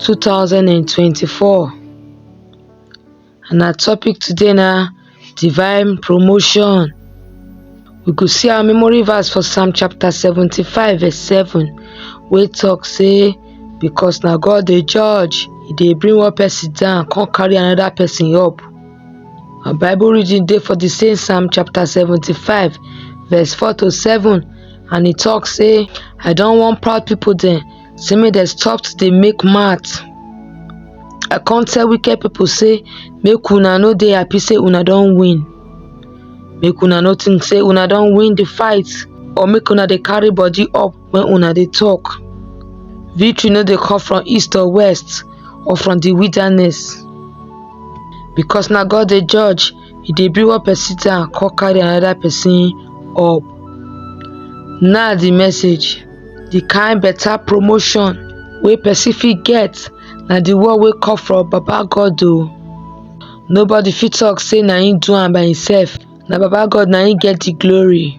2024 and our topic today na divine promotion we go see our memory verse for psalm chapter 75 verse 7 wey talk say because na god dey judge e dey bring one person down come carry another person up our bible reading dey for the same psalm chapter 75 verse 4 to 7 and e talk say i don warn proud people dem say make dem stop to dey make mouth i come tell wicked people say make una no dey happy say una don win make una no think say una don win the fight or make una dey carry body up when una dey talk victory no dey come from east or west or from the wilderness because na god dey judge e dey bring one person down come carry another person up now the message the kind better promotion wey person fit get na the one wey come from baba god o nobody fit talk say na him do am by himself na baba god na him get the glory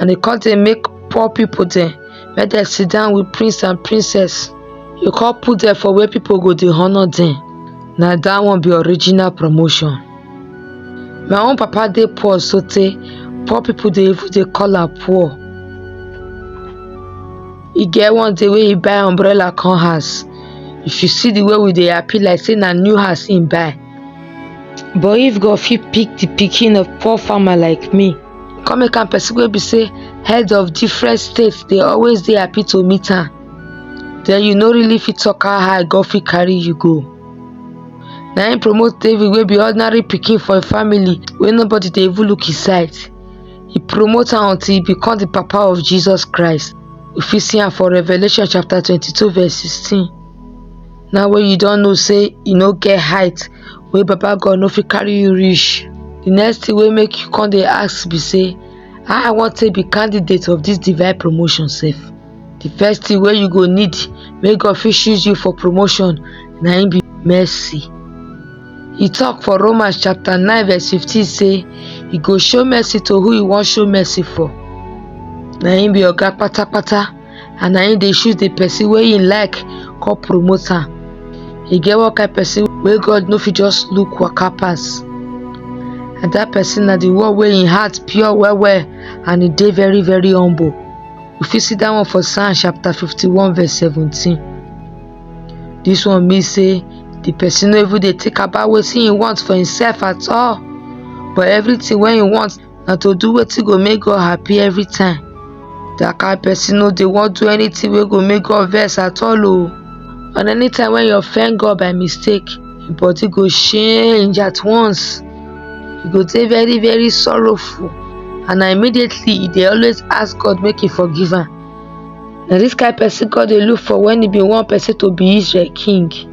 And he come say make poor people then make them sit down with prince and princess. You come put them for where people go to honor them. Now that one be original promotion. My own papa they poor so they poor people they even they call her poor. He get one day where he buy umbrella come house. If you see the way we they happy like saying a new house in buy. But if God fit pick the picking of poor farmer like me, come make am person wey be say head of different states dey always dey happy to meet am then you no really fit talk how high God fit carry you go na him promote David wey be ordinary pikin for him family wey nobody dey even look him side he promote am until he become the papa of Jesus Christ we fit see am for Revelation chapter twenty-two verse sixteen now wey you don know say you no get height wey baba god no fit carry you reach the next thing wey make you come dey ask be say how i wan take be candidate of this divine promotion sef the first thing wey you go need make god fit choose you for promotion na him be mercy he talk for romans chapter 9 verse 15 say he go show mercy to who he wan show mercy for na him be oga patapata and na him dey choose the person wey him like come promote am e get one kind person wey god no fit just look waka pass and that person na the one wey him heart pure well well and e dey very very humble we fit see that one for psalm chapter 51 verse 17 this one mean say the person no even dey think about wetin he want for himself at all but everything wey he want na to do wetin go make God happy every time. That kind person no dey wan do anything wey go make God vex at all o. And anytime when you offend God by mistake, your body go change at once. You go dey very very sorrowful and na immediately you dey always ask God make he forgive am. Na this kind person God dey look for when he bin want person to be Israel king.